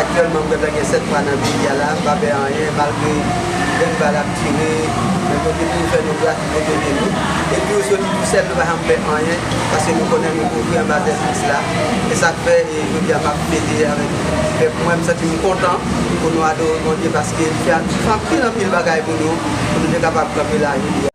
Aktyèlman m gentan gen 7 mwa nan peyi a la, m pa pè anyen malgre grenn bal ap tire, men Bondye toujou fè nou gras, li toujou ede nou. Epi yo soti tou sèl, nou pa janm pè anyen paske nou konnen nou kouvri anba zèl Kris la. Se sa k fè jodi a m ap fete avèk pèp mwen, m santi m kontan pou nou adore Bondye paske li fè anpil anpil bagay pou nou, pou nou te kapab kanpe la jodi a.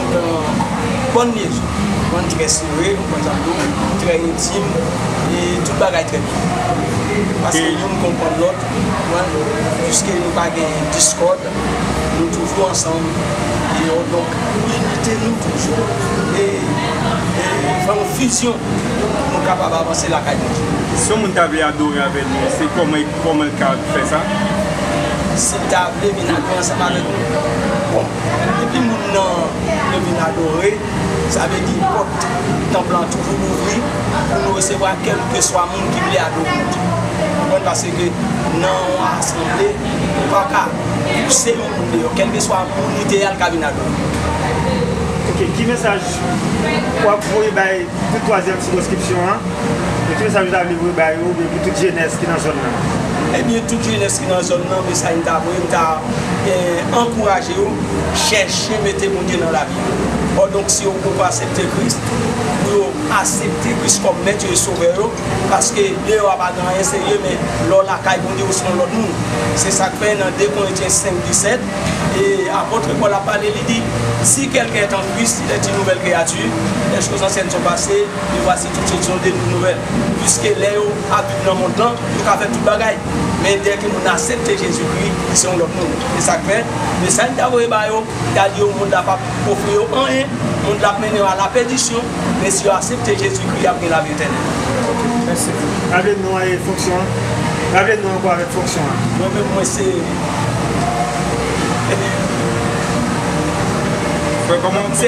Yon bon liezon, bon trè sere, m kontan tou, trè entim e tout bagay trè byen. Paske youn konprann lòt, konprann, piske nou pa gen diskòd, nou toujou ansanm e yo donk inite nou toujou e fè yon fizyon pou nou kapab avanse lakay nou tou. Si yon moun ta vle adore avè nou, se kòman e kòman l ka fè sa? Si l ta vle vin adore ansanm avèk nou? Bon, Depi moun nan leve nan adore, sa vle di pòt tanp lan toujou louvri pou nou resevwa kèlkeswa moun ki vle adore Bondye. Ou konprann? Paske nan yon asanble, ou pa ka pouse yon moun deyò. Kèlkeswa moun li te ye a, li ka vin adore. Ok, ki mesaj ou ap voye bay tout twazyèm sikonskripsyon an? Ki mesaj ou ta vle voye ba yo oubyen pou tout jenès ki nan zòn nan? Ebyen tout jenès. ki nan zòn nan men sa yo ta voye m ta ankouraje yo chèche mete Bondye nan lavi yo ò donk si yo poko asepte Kris pou yo asepte Kris kòm mèt yo e sovè yo paske deyò a pa gen anyen serye men lè w lakay Bondye ou se yon lòt moun se sak fè nan 2 Korentyen 5 17 e apòtre Pòl ap pale li di si kèlken èt an Kris li èt yn nouvèl kreyati lè choz ansyen son pase e vwasi Titid son debri nouvèl, piske lè yo ap viv nan mond lan, yo ka fè tout bagay, men dèke moun nan asepte Jezikri, li se yon lòt moun. Se sa k fè, mesaj m ta voye ba yo, m ta di yo mond la p ap ofri yo anyen, mond la ap mennen yo a lapèdisyon, men si yo asepte Jezikri, y ap gen lavi etènèl. Rale non an e fonksyon an. Rale non an ankò avèk fonksyon an. Mwen menm, mwen se. Ebyen. Mwen se.